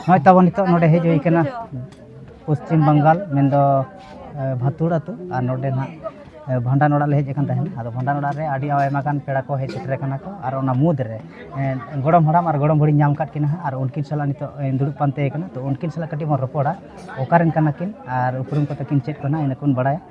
ᱱᱚᱜᱼᱚᱭ ᱛᱟᱵᱚᱱ ᱱᱤᱛᱚᱜ ᱱᱚᱰᱮ ᱦᱮᱡ ᱦᱩᱭ ᱠᱟᱱᱟ ᱯᱚᱥᱪᱤᱢ ᱵᱟᱝᱜᱟᱞ ᱢᱮᱱᱫᱚ ᱵᱷᱟᱛᱩᱲ ᱟᱹᱛᱩ ᱟᱨ ᱱᱚᱰᱮ ᱱᱟᱜ ᱵᱷᱟᱸᱰᱟᱱ ᱚᱲᱟᱜ ᱞᱮ ᱦᱮᱡ ᱟᱠᱟᱱ ᱛᱟᱦᱮᱱᱟ ᱟᱫᱚ ᱵᱷᱟᱸᱰᱟᱱ ᱚᱲᱟᱜ ᱨᱮ ᱟᱹᱰᱤ ᱟᱭᱢᱟ ᱜᱟᱱ ᱯᱮᱲᱟ ᱠᱚ ᱦᱮᱡ ᱥᱮᱴᱮᱨ ᱟᱠᱟᱱᱟ ᱠᱚ ᱟᱨ ᱚᱱᱟ ᱢᱩᱫᱽ ᱨᱮ ᱜᱚᱲᱚᱢ ᱦᱟᱲᱟᱢ ᱟᱨ ᱜᱚᱲᱚᱢ ᱵᱩᱲᱦᱤᱧ ᱧᱟᱢ ᱟᱠᱟᱫ ᱠᱤᱱᱟ ᱦᱟᱸᱜ ᱟᱨ ᱩᱱᱠᱤᱱ ᱥᱟᱞᱟᱜ ᱱᱤᱛᱚᱜ ᱤᱧ ᱫᱩᱲᱩᱵ ᱯᱟᱱᱛᱮ ᱟᱠᱟᱱᱟ ᱛᱳ ᱩᱱᱠᱤᱱ ᱥᱟᱞᱟᱜ ᱠᱟᱹᱴᱤᱡ ᱵᱚᱱ ᱨᱚᱯᱚᱲᱟ ᱚᱠᱟ ᱨᱮᱱ ᱠᱟᱱᱟ ᱠᱤᱱ ᱟᱨ ᱩᱯᱨᱩᱢ ᱠᱚᱛᱟ ᱠᱤᱱ ᱪᱮᱫ ᱠᱟᱱᱟ ᱤᱱᱟᱹ ᱠᱚᱵᱚᱱ ᱵᱟᱲᱟᱭᱟ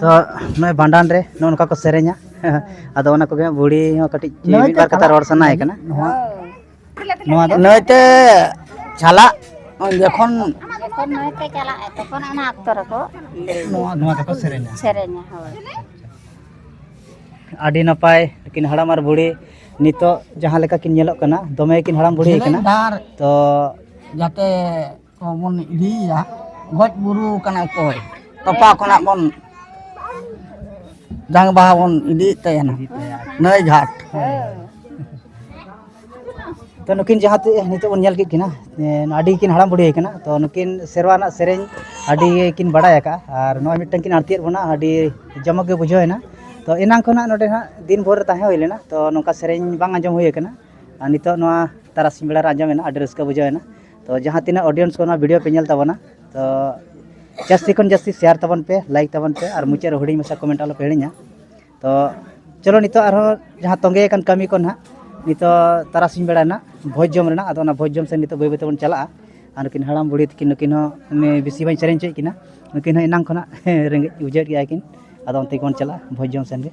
ᱛᱚ ᱱᱚᱜᱼᱚᱭ ᱵᱷᱟᱸᱰᱟᱱ ᱨᱮ ᱱᱚᱜᱼᱚ ᱱᱚᱝᱠᱟ ᱠᱚ ᱥᱮᱨᱮᱧᱟ ᱟᱫᱚ ᱚᱱᱟ ᱠᱚᱜᱮ ᱵᱩᱲᱦᱤ ᱦᱚᱸ ᱠᱟᱹᱴᱤᱡ ᱢᱤᱫ ᱵᱟᱨ ᱠᱟᱛᱷᱟ ᱨᱚᱲ ᱥᱟᱱᱟᱭᱮ ᱠᱟᱱᱟ ᱱᱚᱣᱟ ᱫᱚ ᱱᱟᱹᱭᱛᱮ ᱪᱟᱞᱟᱜ ᱡᱚᱠᱷᱚᱱ ᱡᱚᱠᱷᱚᱱ ᱱᱟᱹᱭᱛᱮ ᱪᱟᱞᱟᱜ ᱛᱚᱠᱷᱚᱱ ᱚᱱᱟ ᱚᱠᱛᱚ ᱨᱮᱠᱚ ᱱᱚᱣᱟ ᱱᱚᱣᱟ ᱠᱚᱠᱚ ᱥᱮᱨᱮᱧᱟ ᱥᱮᱨᱮᱧᱟ ᱦᱳᱭ ᱟᱹᱰᱤ ᱱᱟᱯᱟᱭ ᱠᱤᱱ ᱦᱟᱲᱟᱢ ᱟᱨ ᱵᱩᱲᱦᱤ ᱱᱤᱛᱚᱜ ᱡᱟᱦᱟᱸ ᱞᱮᱠᱟ ᱠᱤᱱ ᱧᱮᱞᱚᱜ ᱠᱟᱱᱟ ᱫᱚᱢᱮ ᱠᱤᱱ ᱦᱟᱲᱟᱢ ᱵᱩᱲᱦᱤ ᱠᱟᱱᱟ ᱛᱚ ᱡᱟᱛᱮ ᱵᱚᱱ ᱤᱫᱤᱭᱮᱭᱟ ᱜᱚᱡ ᱵᱩᱨᱩ ᱠᱟᱱᱟ ᱚᱠᱚᱭ ᱛᱚᱯᱟ ᱠᱷᱚᱱᱟᱜ ᱵᱚᱱ ᱡᱟᱝ ᱵᱟᱦᱟ ᱵᱚᱱ ᱤᱫᱤᱭᱮᱫ ᱛᱟᱭᱟ ᱱᱟᱹᱭ ᱜᱷᱟᱴ ᱛᱚ ᱱᱩᱠᱤᱱ ᱡᱟᱦᱟᱸ ᱛᱮ ᱱᱤᱛᱚᱜ ᱵᱚᱱ ᱧᱮᱞ ᱠᱮᱫ ᱠᱤᱱᱟ ᱟᱹᱰᱤ ᱠᱤᱱ ᱦᱟᱲᱟᱢ ᱵᱩᱰᱷᱤ ᱠᱟᱱᱟ ᱛᱚ ᱱᱩᱠᱤᱱ ᱥᱮᱨᱣᱟ ᱨᱮᱱᱟᱜ ᱥᱮᱨᱮᱧ ᱟᱹᱰᱤ ᱠᱤᱱ ᱵᱟᱲᱟᱭ ᱟᱠᱟᱫᱼᱟ ᱟᱨ ᱱᱚᱜᱼᱚᱭ ᱢᱤᱫᱴᱟᱝ ᱠᱤᱱ ᱟᱬᱛᱤᱭᱮᱫ ᱵᱚᱱᱟ ᱟᱹᱰᱤ ᱡᱚᱢᱚᱠ ᱜᱮ ᱵᱩᱡᱷᱟᱹᱣ ᱮᱱᱟ ᱛᱚ ᱮᱱᱟᱝ ᱠᱷᱚᱱᱟᱜ ᱱᱚᱰᱮ ᱦᱟᱸᱜ ᱫᱤᱱ ᱵᱷᱳᱨ ᱨᱮ ᱛᱟᱦᱮᱸ ᱦᱩᱭ ᱞᱮᱱᱟ ᱛᱚ ᱱᱚᱝᱠᱟ ᱥᱮᱨᱮᱧ ᱵᱟᱝ ᱟᱸᱡᱚᱢ ᱦᱩᱭ ᱠᱟᱱᱟ ᱟᱨ ᱱᱤᱛᱚᱜ ᱱᱚᱣᱟ ᱛᱟᱨᱟᱥᱤᱧ ᱵᱮᱲᱟ ᱨᱮ ᱟᱸᱡᱚᱢᱮᱱᱟ ᱟᱹᱰᱤ ᱨᱟᱹᱥᱠᱟᱹ ᱵᱩᱡᱷᱟᱹᱣ ᱮᱱᱟ ᱛᱚ ᱡᱟᱦᱟᱸ ᱛᱤᱱᱟᱹᱜ ᱚᱰᱤᱭᱮᱱᱥ ᱠᱚ ᱱᱚᱣᱟ ᱵᱷᱤᱰᱤᱭᱳ ᱯᱮ ᱧᱮᱞ ᱛᱟᱵᱚᱱᱟ ᱛᱚ ᱡᱟᱹᱥᱛᱤ ᱠᱷᱚᱱ ᱡᱟᱹᱥᱛᱤ ᱥᱮᱭᱟᱨ ᱛᱟᱵᱚᱱ ᱯᱮ ᱞᱟᱭᱤᱠ ᱛᱟᱵᱚᱱ ᱯᱮ ᱟᱨ ᱢᱩᱪᱟᱹᱫ ᱨᱮ ᱦᱩᱰᱤᱧ ᱢᱟᱪᱷᱟ ᱠᱚᱢᱮᱱᱴ ᱟᱞᱚᱯᱮ ᱦᱤᱲᱤᱧᱟ ᱛᱚ ᱪᱚᱞᱚ ᱱᱤᱛᱚᱜ ᱟᱨᱦᱚᱸ ᱡᱟᱦᱟᱸ ᱛᱚᱸᱜᱮ ᱟᱠᱟᱱ ᱠᱟᱹᱢᱤ ᱠᱚ ᱱᱟᱦᱟᱜ ᱱᱤᱛᱚᱜ ᱛᱟᱨᱟᱥᱤᱧ ᱵᱮᱲᱟ ᱱᱟᱜ ᱵᱷᱚᱡᱽ ᱡᱚᱢ ᱨᱮᱱᱟᱜ ᱟᱫᱚ ᱚᱱᱟ ᱵᱷᱚᱡᱽ ᱡᱚᱢ ᱥᱮᱫ ᱱᱤᱛᱚᱜ ᱵᱟᱹᱭ ᱵᱟᱹᱭ ᱛᱮᱵᱚᱱ ᱪᱟᱞᱟᱜᱼᱟ ᱟᱨ ᱱᱩᱠᱤᱱ ᱦᱟᱲᱟᱢ ᱵᱩᱲᱦᱤ ᱛᱟᱹᱠᱤᱱ ᱱᱩᱠᱤᱱ ᱦᱚᱸ ᱵᱮᱥᱤ ᱵᱟᱹᱧ ᱥᱮᱨᱮᱧ ᱦᱚᱪᱚᱭᱮᱫ ᱠᱤᱱᱟ ᱱᱩᱠᱤᱱ ᱦᱚᱸ ᱮᱱᱟᱝ ᱠᱷᱚᱱᱟᱜ ᱨᱮᱸᱜᱮᱡ ᱵᱩᱡᱷᱟᱹᱣᱮᱫ ᱜᱮᱭᱟ ᱠᱤᱱ ᱟᱫᱚ ᱚᱱᱛᱮ ᱜᱮᱵᱚᱱ ᱪᱟᱞᱟᱜᱼᱟ ᱵᱷᱚᱡᱽ ᱡᱚᱢ ᱥᱮᱫ ᱜᱮ